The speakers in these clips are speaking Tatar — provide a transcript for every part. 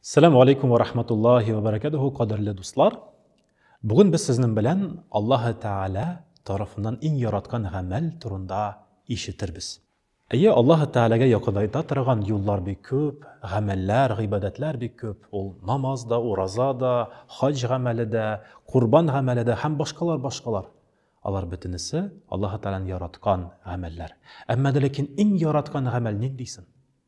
Сәлам алейкум ва рахматуллахи ва баракатуху, кадерле дуслар. Бүген без сезнең белән Аллаһ Тәгалә тарафыннан иң яраткан гамәл турында ишетербез. Әйе, Аллаһ Тәгаләгә якынайта торган юллар бик күп, гамәлләр, гыйбадәтләр бик күп. Ул намаз да, ураза да, хаҗ гамәле дә, курбан гамәле дә һәм башкалар башкалар. Алар бөтенесе Аллаһ Тәгаләнең яраткан гамәлләр. Әмма дә ләкин иң яраткан гамәл ниндисен?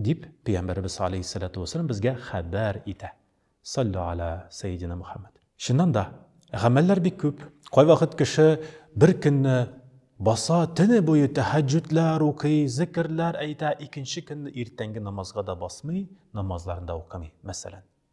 Дип, Пәйгамбәребез галәйһиссәләтү вәссәлам безгә хәбәр итә. Саллү галә сәйединә Мөхәммәд. Чыннан да, гамәлләр бик күп. Кайвакыт кеше бер көнне баса, төне буе тәһәҗҗүдләр укый, зекерләр әйтә, икенче көнне иртәнге намазга да басмый, намазларын да укымый, мәсәлән.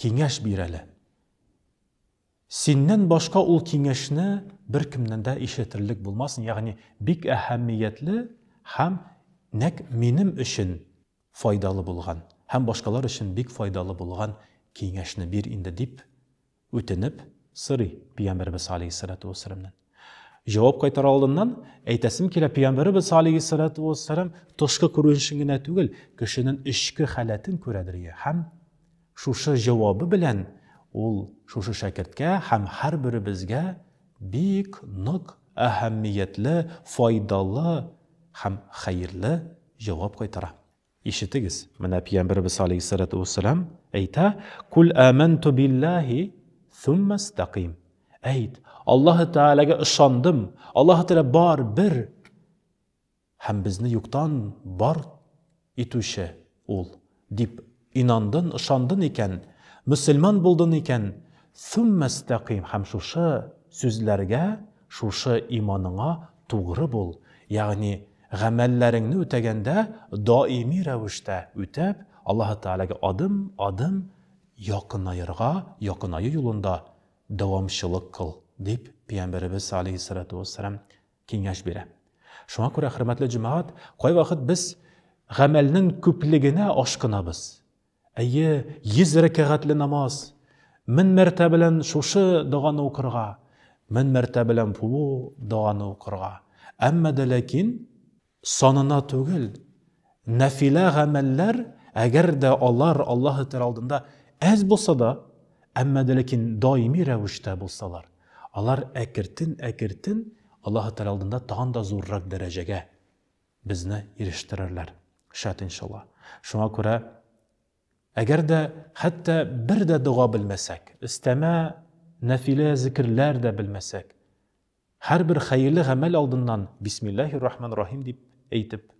Киңәш бир әле. Синнән башка ул киңәшне беркемнән дә ишетерлек булмасын, ягъни бик әһәмиятле һәм нәкъ минем өчен файдалы булган һәм башкалар өчен бик файдалы булган киңәшне бир инде, дип үтенеп сорый Пиямбәребез галәйһиссәләтү вәссәламнән. Җавап кайтар алдыннан, әйтәсем килә, Пәйгамбәребез алейһиссалату вәссәлам тышкы күренешен генә түгел, кешенең эчке халәтен күрәдер ия. Һәм шушы җавабы белән ул шушы шәкерткә һәм һәрберебезгә бик нык әһәмиятле, файдалы һәм хәерле җавап кайтара. Ишетегез, менә Пиямберебез алейһиссалату уәссәлам әйтә, Куль әмәнту биллаһи, сумма стәкыйм. Әйт, Аллаһы Тәгаләгә ышандым, Аллаһы Тәгалә бар, бер, һәм безне юктан бар итүче ул, дип инандын, ышандын икән, мөселман булдын икән, сумма стәкыйм, һәм шушы сүзләргә, шушы иманыңа тугры бул, ягъни, Гамәлләреңне үтәгәндә, даими рәвештә үтәп, Аллаһы Тәгаләгә адым, адым якынаерга, якынаю юлында дәвамчылык кыл, дип Пәйгамбәребез галәйһиссәлату вәссәлам киңәш бирә. Шуңа күрә, хөрмәтле җәмәгать, кайвакыт без гамәлнең күплегенә ашкынабыз. Әйе, йөз рәкәгатьле намаз, мең мәртә белән шушы доганы укырга, мең мәртә белән бу доганы укырга. Әмма дә ләкин санына түгел, нәфилә гамәлләр, әгәр дә алар Аллаһы Тәгалә алдында әз булса да, әмма дә ләкин даими рәвештә булсалар, алар әкертен-әкертен Аллаһы Тәгалә алдында тагын да зуррак дәрәҗәгә безне ирештерерләр. Шат иншалла. Шуңа күрә, әгәр дә хәтта бер дә дога белмәсәк, өстәмә нәфилә зикерләр дә белмәсәк, һәрбер хәерле гамәл алдыннан бисмиллаһи рахман рахим дип әйтеп,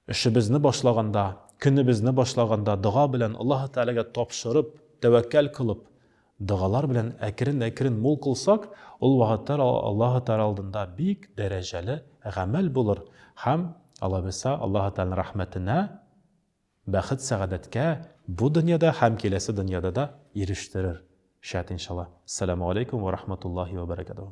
эшебезне башлаганда, көнебезне башлаганда дога белән Аллаһ Тәгаләгә тапшырып, тәвәккәл кылып, Догалар белән әкрен-әкрен мул кылсак, ул вәгатьләр Аллаһы Тәгалә алдында бик дәрәҗәле гамәл булыр һәм, алайса, Аллаһы Тәгаләнең рәхмәтенә, бәхет-сәгадәткә бу дөньяда һәм киләсе дөньяда да ирештерер, шәт иншаллаһ. Әссәламүгаләйкүм вә рахматуллаһи вә бәрәкәтүһү.